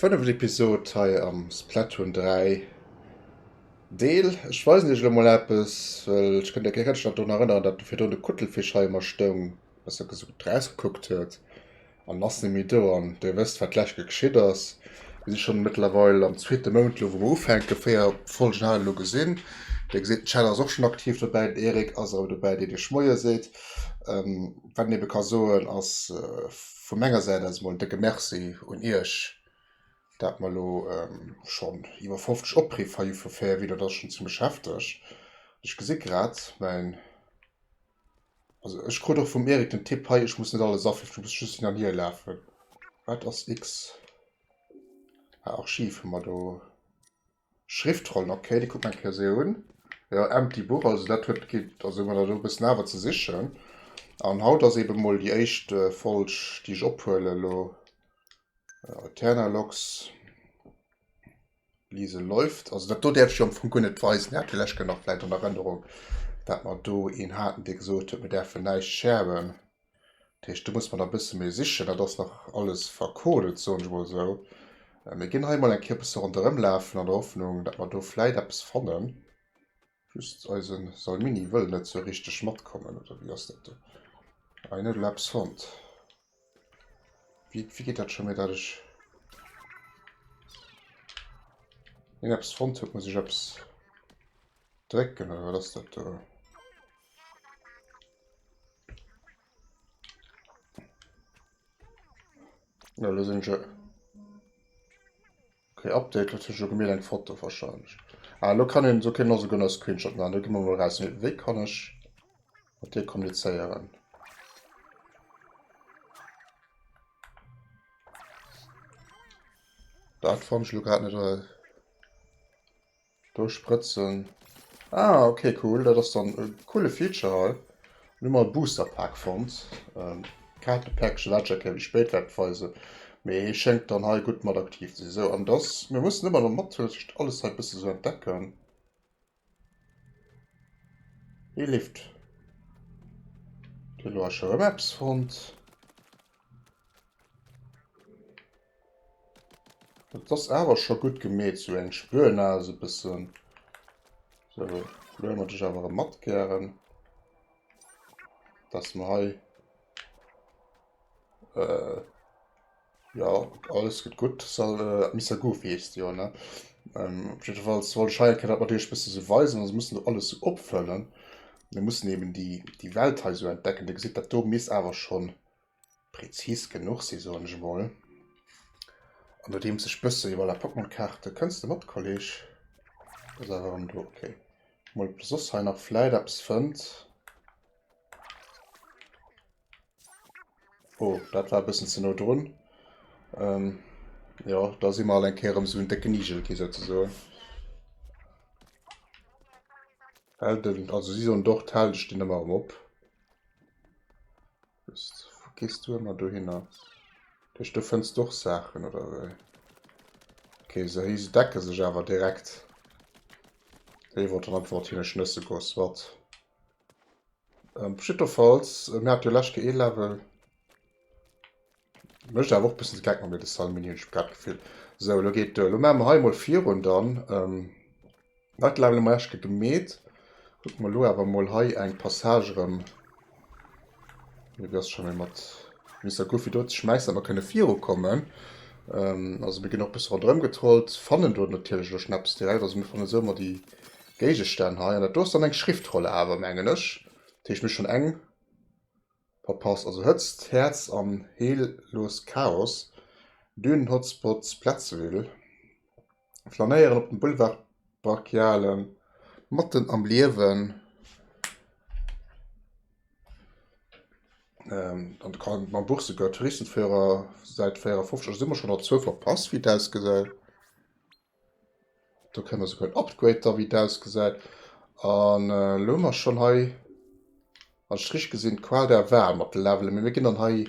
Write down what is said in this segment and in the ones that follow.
Fënneft Episod hei am Splatoon 3 Deel. Ech weisen iech elo mol eppes, well ech kënnt iech keng Rëtsch drun erënneren, datt virun de Kuttelfisch hei ëmmer stoung, besser gesot draus gekuckt huet. An ass ni méi do. An Dir wësst, wat d'lescht Kéier geschitt ass. Mir si schonn mëttlerweil am zweete Mount elo, wou mer ufänken. Véier Folgen hat et elo gesinn. Dir gesitt, den Chad ass och schonn aktiv dobäi, den Eric ass awer dobäi, deen Iech Moie seet. Wat een eebe ka soen, ass vu menger Säit aus emol en décke Merci un Iech, dat mer elo schonn iwwer 50 Opriff hei ufir Véierween. Dat ass schonn zimmlech hefteg. Ech gesi grad, mäin. Also ech krut och vum Erik den Tipp hei, ech muss net alles africhten, ech muss just hin an hier lafen. Wat ass X? Ah, Archiv hu mer do. Schriftrollen, okay, déi kucke mer eng Kéier esou un. Jo, empty book, also dat huet gi, also hu mer da do e bëssen awer ze sichen. An haut ass eebe mol déi éischt Folg, déi ech ophuelen elo. Aeterna Logs. Lise läuft. Also dat do däerf ech jo am Fong guer net weisen. Dir hat villäicht gëtt nach vläicht an Erënnerung, dat mer do een haten, dee gesot huet, mir däerfen näischt sharen. Dat heescht, do muss mer nach e bësse méi sichen. Dat ass nach alles verkodet, soen ech mol esou. Mir ginn hei mol eng Kéier e bësse ronderëm lafen an der Hoffnung, dat mer do vläicht eppes fannen. Just eisen Salmini wëll net sou richteg matkommen, oder wéi ass dat do? Ei net Laps Hond. Wéi geet dat scho méi dat ech. Hien eppes fonnt huet, muss ech eppes drécken oder wat ass dat do? Ja, lo sinn ech. Okay Update, lo huet sech jo gemeet eng Foto wahrscheinlech. Ah lo kann een, lo kënnen also gënn e Screenshot maachen, da gi mer mol eraus, mee wéi kann ech mat dir kommunizéieren? Dat fannen ech lo grad net. Do sprëtzen. Ah, okay, cool. Dat ass dann e coole Feature hei. Lo hu mer e Booster Pack fonnt. Ähm, Kaartepäckche wat ech der Kéier méi spéit wäert weise. Mee hie schéngt dann hei gutt mat aktiv ze sinn. Sou, an dass. Mir mussen ëmmer erëm natierlech alles hei e bësse sou entdecken. Hie leeft. Elo ech erëm eppes fonnt. Et ass awer scho gutt gemeet, sou eng Spuer nach esou e bëssen. Sou, lo huele mer dech awer erëm mat gären, dass mer hei, jo, alles gëtt gutt. Sal, Mister Goofy heesst de jo, ne? Op jiddefalls wollt ech hei eng Kéier dat mat iech e bësse sou weisen, also mussen do alles sou opfëllen. Mir mussen eben déi Welt hei sou entdecken. Dir gesitt, dat do misst awer schonn Präzis genuch si soen ech mol. An nodeems ech bësse jo voilà Pokémon Kaarte, kënns de mat Kolleg? Ass awer erëm do, ok. Mol op de soss hei nach vläit eppes fënnt. Oh dat war e bëssen ze no drun. Ähm jo da si mer all eng Kéier erëm esou en décken Igelki souzesoen. Hält en, also si soen dort hält ech den ëmmer erëm op. Gees du ëmmer dohinner? Duerch do fënns du och Saachen oder wéi? Okay, se hei se decke sech awer direkt. Déi wollt einfach wat hinne schnësse goss wat. Ähm, Schitterfalls äh, mir hat jo lechke e Level. Mëcht awer och bëssen geck mat mir de Salmini hunn ech grad gefillt. So, lo geet, äh, lo ma mer hei mol virun dann. Ähm, Wat level mer eschke gemeet? Kucke mer lo awer mol hei eng Passage erëm. Mir ass schon méi mat Mister Goofy do ze schmäissen, mer kënne viru kommen. Ähm, also mir ginn och bësse rondrëm getrollt, fannen do natierlech lo Schnäpps direkt. Also mir fannen esou ëmmer déi Géigestänn hei. An dat do ass dann eng Schriftrolle awer, mengen ech. Dat heescht, mir hu schon eng verpasst. Also Hëtzt, Häerz an Heellos Chaos, Dünen-Hotspots, Platzville. flanéieren op den Boulevard brachiale matten am Liewen an de kann mam Buch souguer Touristenführer säit 54 si mer schon op zwou verpasst wéi et ausgesäit. Do kréie mer souguer en Upgrade da wéi et ausgesäit an elo hu mer schon hei wann ech et richteg gesinn d'Qual der Wal mat de Levelen, mee mir ginn dann hei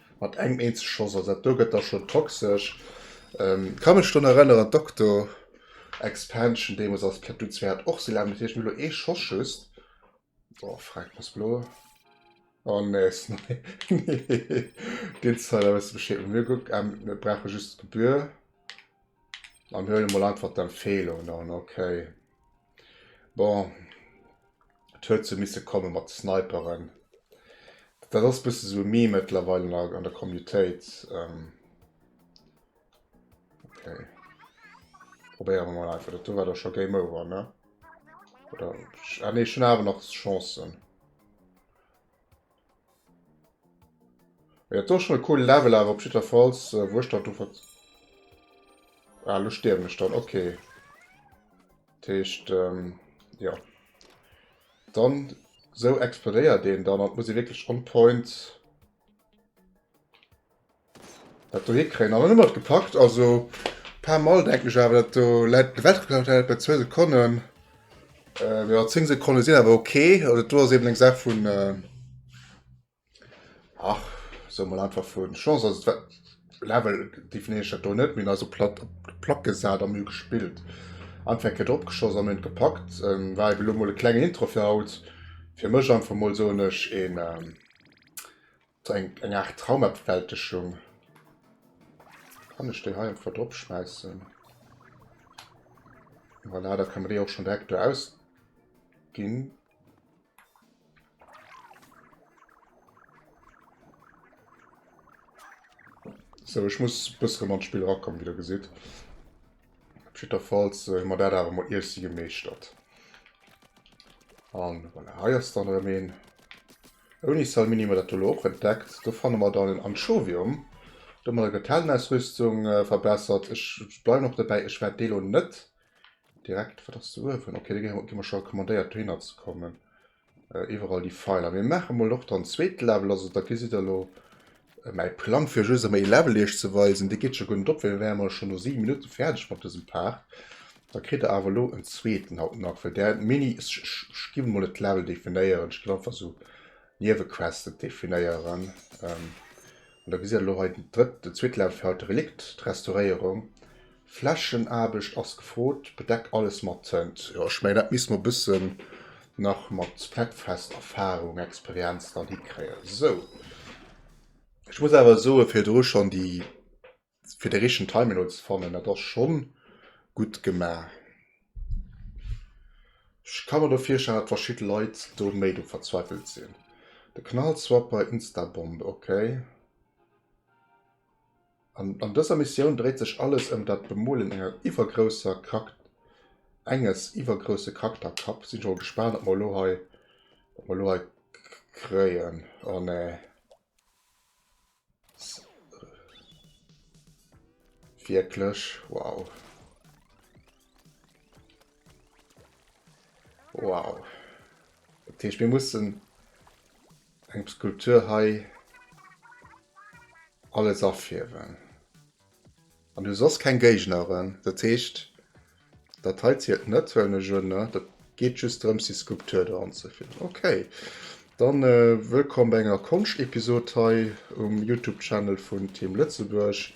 Mat engem eenzeg Schoss, also dat do gëtt da schonn toxesch. Ka mech drun erënneren, d'Octo Expansion deemools als Splatoon 2 hat och sou laang geduert. Hie huet elo ee Schoss just. Oh, frag muss blo. Oh nee, deen Zeil ass e bësse bescheet. Mir kucken, mir brauche just d'Gebühr. An mir huelen emol einfach d'Empfehlungen an, okay. Bon, et huet sou misse kommen mat de Sniperen. Dat ass bësse sou e Meme mëttlerweil an der, an der Commutéit. Ähm, okay. Probéiere mer mal einfach. Dat do war da scho Game Over, ne? Oder, ah ne, ech hunn awer nach Chancen. Ja, do schon e cool Level awer op jidderfalls, äh, wo ech dat do wat... Ah, lo stierwen ech dann, okay. Techt, ähm, ja. Dann, so explodéiert den dann, an muss e wirklich on point... Dat dohé kréien awer net mat gepackt, also paar mol denken ech awer dat do läit de Welt geplaucht läit bei zwee Sekonnen äh, jo 10 Sekonnen sinn awer ok, also dat do ass eben eng Saach vun äh, ach soe mol einfach vun Chance, also dat Level definéieren ech dat do net, mee en ass op platt op d'Plack gesat an mir hu gespillt, einfach eng Kéier drop geschoss an mir hunn et gepackt, ähm, war eben elo mol e klengen Intro fir haut, fir mech einfach mol soen ech een. So eng, eng Art Traumabwältegung. Kann ich den hier einfach drop schmeißen? Voilà, da können wir die auch schon direkt da ausgehen. So, ich muss ein bisschen ans Spiel rankommen, wie ihr seht. Auf jeden Fall äh, haben wir das aber mal erst gemeistert. Und voilà, hier ist dann ein Ouni Salmini hu mer dat do elo och entdeckt. Do fanne mer dann en Anchovium. Do hu mer da grad d'Heldenausrüstung verbessert. Ech bleiwen och dobäi, ech wäert dee elo net direkt, wat ass de uewen? Ok, dee gi mer scho recommandéiert dohinner ze kommen. Iwwerall déi Feiler. Mir maache mol och dann zweete Level, also da gesitt der elo Mäi Plang fir just emol ee Level iech ze weisen, dee geet scho guer net op, well mir wäre mol scho no 7 Minutte fäerdeg mat dësem Part. Da kritt der awer elo en zweeten haut nach, well där Mini, ech ginn emol net d'Level definéieren, ech ginn einfach esou Niewequesten definéieren. An da gesitt der elo hei den drëtt, den zweete Level fir haut, de Relikt, d'Restauréierung. Flächenaarbecht ass gefrot, bedeck alles mat Tënt. Jo, ech mengen, dat misst mer bëssen nach mat Fleckfest Erfahrung, Experienz dann hikréien. Sou, ech muss awer soen, fir do schonn déi, fir de richtegen Timing elo ze fannen, dat ass schonn gutt gemaach. Ech ka mer elo virstellen, datt verschidde Leit do méi do verzweifelt sinn. De Knallswapper, Instabomb, okay. An dëser Missioun dréit sech alles ëm dat Bemuelen enger iwwergrousser Krak, enges iwwergrousse Kraktakkapp. Sinn ech mol gespaant wat mer elo hei, wat mer elo hei kréien. Oh nee. Wierklech? Wow. Wow. Dat heescht mir mussen Eng Skulptur hei alles afierwen an hu soss keng Géigneren. Dat heescht dat hei zielt net well mech un ne dat geet just drëms déi Skulptur do anzefierwen. Ok dann wëllkomm bei enger Konscht-Episod hei um Youtube Channel vun Team Lëtzebuerg.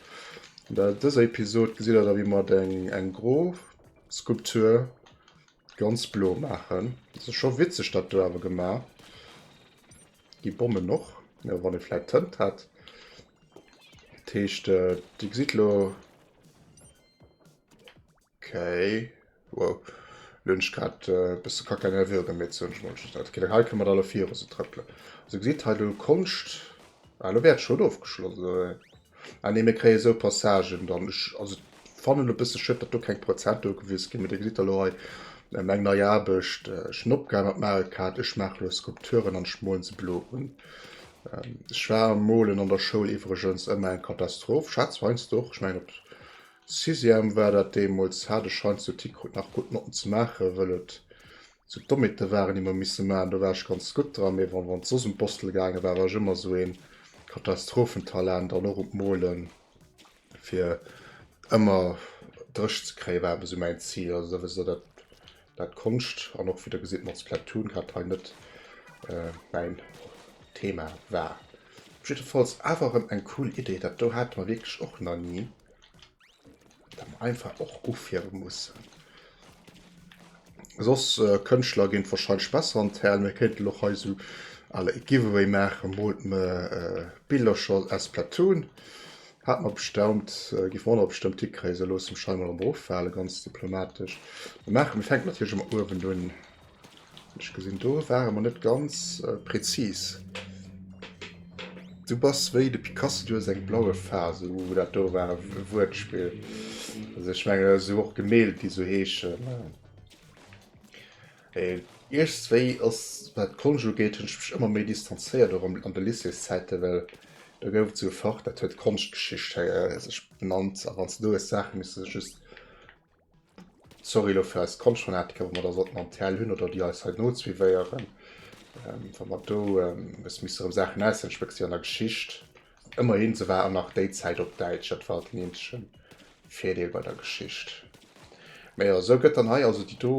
An der dëser Episod gesitt der da wéi mer eng gro Skulptur, Ganz blo maachen. Dass ass scho witzeg dat do awer gemaach. Déi Bommen och jo wann ee vläit Tënt hätt. Dat heescht déi gesitt elo okay wow elo hunn ech grad e bësse Kack an der Virun gemeet sou hunn ech mol just dat okay hei kënne mer da elo viru se trëppelen. Also gesitt hei do Konscht ah elo wär d'Schoul ofgeschloss. Ah nee, mir kréie esou Passagen dann. Ech, also et fannen elo e bësse schëff, datt do keng Prozent ugewis ginn. Mee Dir gesitt da lo hei ähm, eng nei Aarbecht. Ech hunn opgehal mat Mario Kart, ech maache lo Skulpturen an ech molen se blo un. Ähm, ech war am Molen an der Schoul iwwregens ëmmer eng Katastroph, schätz heiansdo och. Ech mengen op Sixième war dat deemools, hat ech heiansdo d'Hick krut nach gutt Notten ze maachen, wëll et Sou d'Dommeten waren, déi mer misse maachen, do war ech ganz gutt dran, mee wann et soss ëm d'Bostele gaange war, war ech ëmmer esou een Katastrophentalent an och op d'Mole fir ëmmer dréch ze kréien, war ëmmer esou mäin Zil. Also da wësst Der, dat dat d'Konscht an och, wéi Der gesitt, mat Splatoon grad hei net mäin Thema war. Op jiddefalls awer erëm eng cool Idee, dat do hate mer wierklech och nach ni. dann einfach och ufire mussen. Soss äh, Kënschtler géint wahrscheinlech besser an d'Häl, mir kéinten och hei so alle e Giveaway maachen, mot me äh, Billercher aus Platoon. Hat mer bestaumt, äh, giff mer bestëmmt hikréien, se loosse Schein mal am Beruff fale, ganz diplomatesch. Maache mir fänken natierlech ëmmer uewen un. Ech gesinn do ware mer net ganz präzis. Du bass wéi de Picasso, du hues eng blaue Phase. Uh, dat do war e Wuertspill. Also ech menge esou och Gemälde, déi so heeschen. Äh, iergstwéi ass wat Konscht ugeet, hunn ech mech ëmmer méi distanzéiert, och an de Lycéeszäiten, well do gouf et sou e Fach, dat huet Konschtgeschicht, hei, sech benannt. A wann s de do hues Saache missen just Sorry lo fir eis Konschtfanatiker, wa mer da sollten am TL hunn oder déi eis hei nozuivéieren, wa mer do e bësse misste rëm Saachen aussetzen. Ech wécks déi an der Geschicht. Ëmmerhin, se war och nach déi Zäit op Däitsch, dat war den eenzege Virdeel bei der Geschicht. Mä jo, esou gëtt dann hei also déi do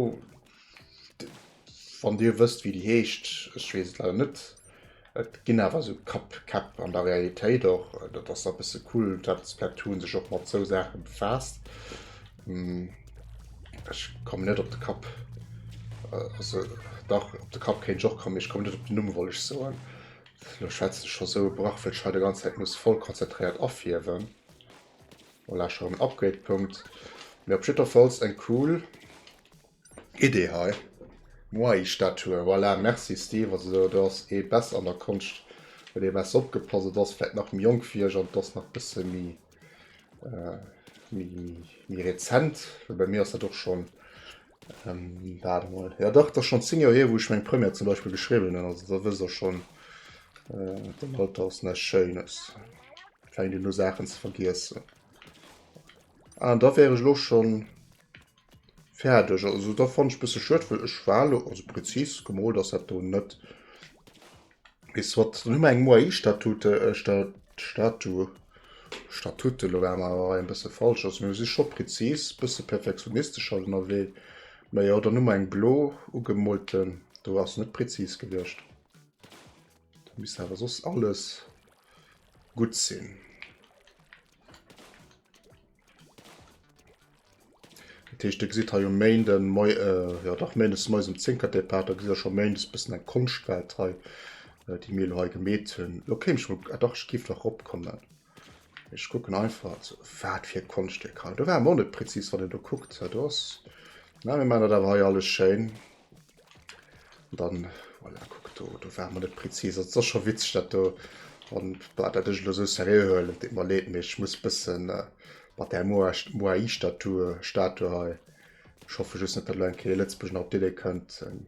Wann dir wësst wéi déi heescht, ech weess et leider net. Et ginn awer esou Kapp-Käpp an der Realitéit och, dat ass e bësse cool. Dat Splatoon sech och mat esou Saache befaasst. Ech komme net op de Kapp. Also dach, op de Kapp kéint ech och kommen, mee ech komme net op den Numm, wollt ech soen. Elo schwätzen ech scho esou e Brach, well ech hei der ganzer Zäit muss voll konzentréiert afiewen. Voilà, ech hu erëm en Upgrade-Punkt. Mee op jiddwerfalls eng cool. Idee hei. Moai Statue, voilà, merci Steve, also do do ass ee bess an der Konscht huet ee bess opgepasst, et ass vläit nach méi jonk wéi ech an et ass nach bësse méi méi rezent, well bei mir ass dat och schonn, waart emol, jo dach et ass schonn 10 Joer hier wou ech meng Première zum Beispill geschriwwen hunn, also da wëss ech och schonn, den Alter ass näischt Schéines, fänkt een u Saachen ze vergiessen an da wär ech elo schonn. Färdeg, also da fann ech bësse schued, well ech war lo, also präzis gemolt ass dat do net. Weess wat, dann hu mer eng Moai Statute, Statu, Statute, lo war mer awer en bësse falsch, also mir si scho präzis, bësse perfektionistesch hei ënnerwee, mä jo dann hu mer eng blo ugemolten, do ass net präzis gewiescht. Da misst awer soss alles gutt sinn. Dat heescht, Dir gesitt hei um Méinde moi, äh, jo dach méindes moies um 10 d'Départ, da gesitt Der scho méindes e bëssen eng Konschtwelt hei, äh, déi mir elo hei gemeet hunn. Elo kéim ech mol, ah dach, ech géif nach eropkommen. Ech kucken einfach, also wat fir e Konschtwierk hei. Do war mer och net prezis, wann een do kuckt. Do ass, na, mir maachen dat awer hei alles schéin. Dann, voilà, kuck do, do ware mer net prezis. Also, et ass scho witzeg, dat do. An bah, dat ech elo esou seriö huelen, et deet mer leed, mee ech muss e bëssen äh, mat där Moai-Statue Statue hei. Ech hoffe just net, dat elo eng Kéier Lëtzebuerg nach op d'Idee kënnt, eng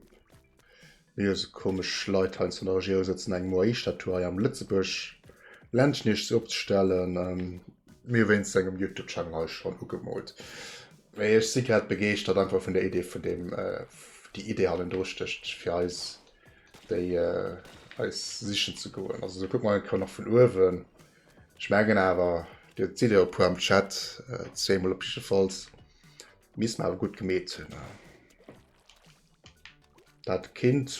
mir hu sou komesch Leit hei an der Regierung sëtzen, eng Moai-Statue hei am Lëtzebuerg Ländchen eescht ze opzestellen. Mir hu wéinstens engem Youtube-Channel hei schonn ugemoolt. Mee ech si grad begeeschtert einfach vun der Idee vun deem, déi Idee hannendru stécht, fir eis déi eis sichen ze goen. Also esou kuckt mer eng Kéier nach vun uewen. Ech mengen awer, Dir sidd jo e puer am Chat, zweemol op jiddefalls, misst mer awer gutt gemeet hunn. Dat Kind,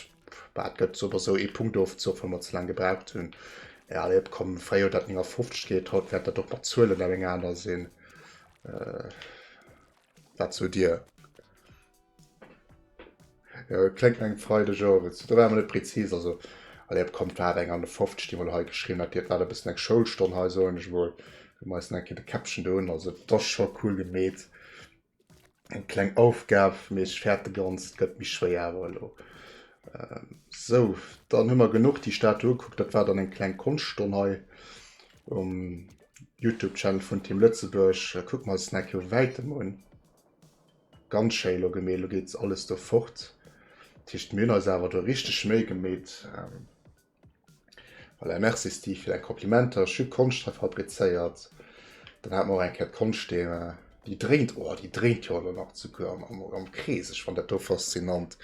dat gëtt sou oder sou ee Punkt ofzoch, well mer ze laang gebraucht hunn. Ja, allez, op komm, fréier huet dat 59 geet, haut wäert dat och mat Zuelen eng aner sinn. Äh, wat sot Dir? Ja, kléngt eng Freideg owes. Da war mer net prezis, also allez, op komm, war eng 51, déi mol hei geschriwwen hat. Dir, et war e bëssen eng Schoulstonn hei, soen ech mol. Mir reissen eng Kéier de Käppchen do un, also et ass scho cool gemeet. Eng kleng Aufgab, mee ech fäert de ganzt gëtt méi schwéier awer elo. Sou, dann hu mer genuch déi Statue ugekuckt. Dat war dann eng kleng Konschtstonn hei um Youtube Channel vun Team Lëtzebuerg. Kucke mer eis den Eck jo wäitem un. Ganz schéi elo gemeet, elo geet alles do fort. Dat heescht mir hunn eis awer do richteg Méi gemeet. Voilà, merci Steve fir däi Komplimenter. Ech hu Konscht hei fabrizéiert. Dann hat mer och eng Kéier d'Konschtthema. Déi dréint, oh, déi dréint jo elo nach zu Chouer am, am Krees. Ech fann dat do faszinant.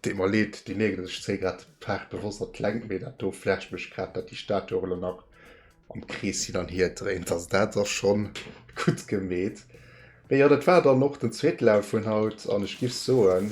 Deet mer leed, déi Nägel, ech zéi grad d'Faarf bewosst an d'Längt, mee dat do flasht mech grad, datt déi Statue och elo nach am Krees hin an hier dréint. Also dat ass scho gutt gemeet. Mee jo, dat war dann och den zweete Lauf vun haut an ech giff soen,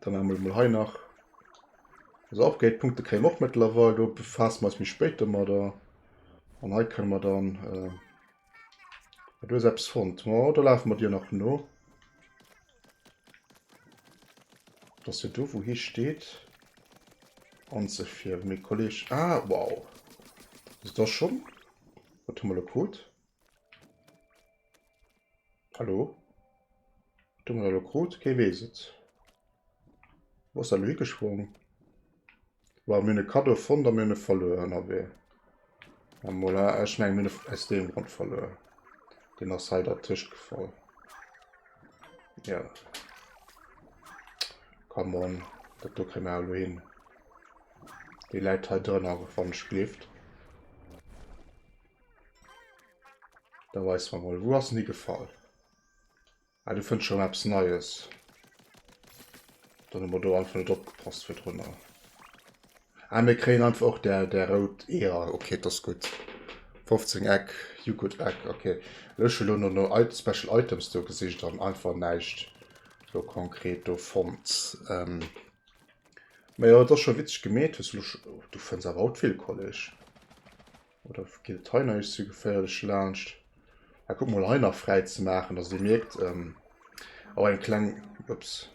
Dann haben wir mal hei nach also Upgrade-Punkte kréien och mittlerweile, do befassen wir uns mich später mal da. Und hei können wir dann äh, du selbst fand. Oh, da laufen wir dir nach no. Das hier du, wo hier steht. Und so viel, mein Kollege. Ah, wow. Ist das schon? Was haben wir da gut? Hallo? Wat hu mer elo krut? Kee weess et. Wou ass dat elo higesprongen? Wow, mir hunn e Kaddo fonnt a mir hunn e verluer ënnerwee. A mola, ech mengen, mir hunn e aus deem Grond verluer. Den ass hei dertëscht gefall. Ja. Come on, dat do kréie mer elo hin. Déi läit hei drënner, wann ech gleeft. Da weis man mal, wo ass nie gefall. Ah, du findst schon etwas Neues. Dann haben wir da einfach nicht abgepasst für drunter. Ah, wir kriegen einfach auch der, der rot Eher. Okay, das ist gut. 15 Eck, you good Eck, okay. Ich habe nur noch Special Items da gesicht und einfach nichts so konkret da fand. Ähm, aber ja, das ist schon witzig gemäht. Du findest aber auch viel College. Oder geet hei nach eescht ze geféierlech laanscht? Ah, guck mol hei nach fräi ze maachen, dass dee mierkt, ähm, oh, eng kleng, ups.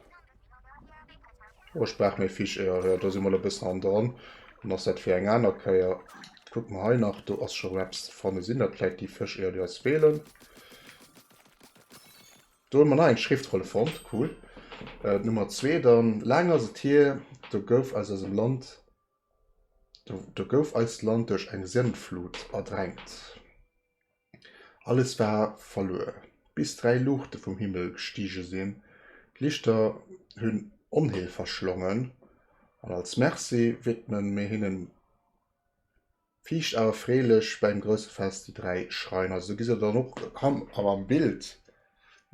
Oh, ech brauch méi Fisch, jo, jo, do si mol e bëssen hanne dran. Dann ass dat fir eng aner Kéier. Kuck mol hei nach, do ass scho erëm eppes ze fannen. Sinn dat vläit déi Fësch, jo, déi eis feelen? Do hunn mer nach eng Schriftrolle fonnt, cool. D'Nummer zwee dann, laang ass et hier, do gouf aus eisem Land. Do gouf eist Land duerch eng Sëndflut erdränkt. Alles war verluer, bis dräi Luuchte vum Himmel gestige sinn. D'Lichter hunn Onheel verschlongen, an als Merci widme mir hinnen. Fiicht awer freelech bäim grousse Fest, déi dräi Schreiner. Esou gi se dann och erkannt an am Bild.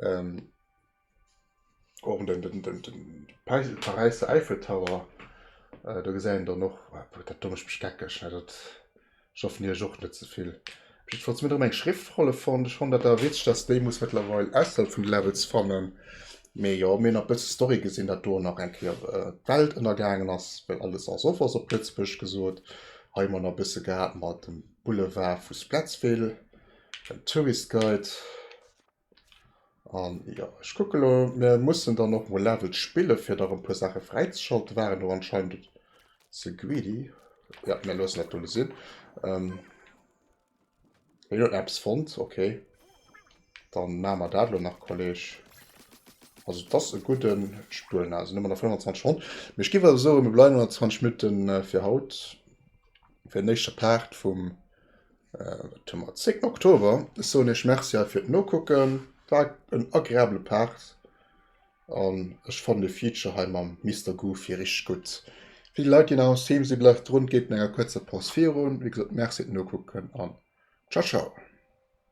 Ähm, och den, den, den, den Paräisser Eiffeltower, äh, do gesäit een dann och, obwuel dat do mécht mech geckeg, ne, dat, ech hoffen Iech och net ze vill. Op jiddwer Fall si mir erëm eng Schriftrolle fonnt. Ech fannen dat awer witzeg, dass déi muss mëttlerweil ausserhalb vun de Levels fannen. Mee jo, mir hunn nach e bësse Story gesinn, dat do nach eng Kéier d'Welt ënnergaangen ass, well alles ass of ass op Lëtzebuergesch gesot. Hei hu mer nach e bësse gehat mat dem Boulevard vu Spletsville, den Tourist Guide. An ja, ech kucke lo, mir mussen dann och mol Levels spille fir nach e puer Saache fräizeschalten. Déi waren do anscheinend ze greedy. Ja, mir loossen dat do lo sinn. Ähm, Jo, Apps fonnt, okay. Dann maan mer daat lo nach Kolleg. Also dass e gudden Spuel na sinn ëmmer nach 25 Ronn. Mee ech giff awer soen mir bleiwen an 20 Minutten fir haut fir den éischte Part vum wat hu mer 10 Oktober. Ech soen iech Merci fir d'Nokucken, war en agreabele Part. An ech fannen de Feature hei mam Mister Goofy richteg gutt. Fir déi Leit déi nach am Stream sinn, bleift drun, geet no enger kuerzer Paus virun. Wéi gesot, Merci fir d'Nokucken an Ciao Ciao.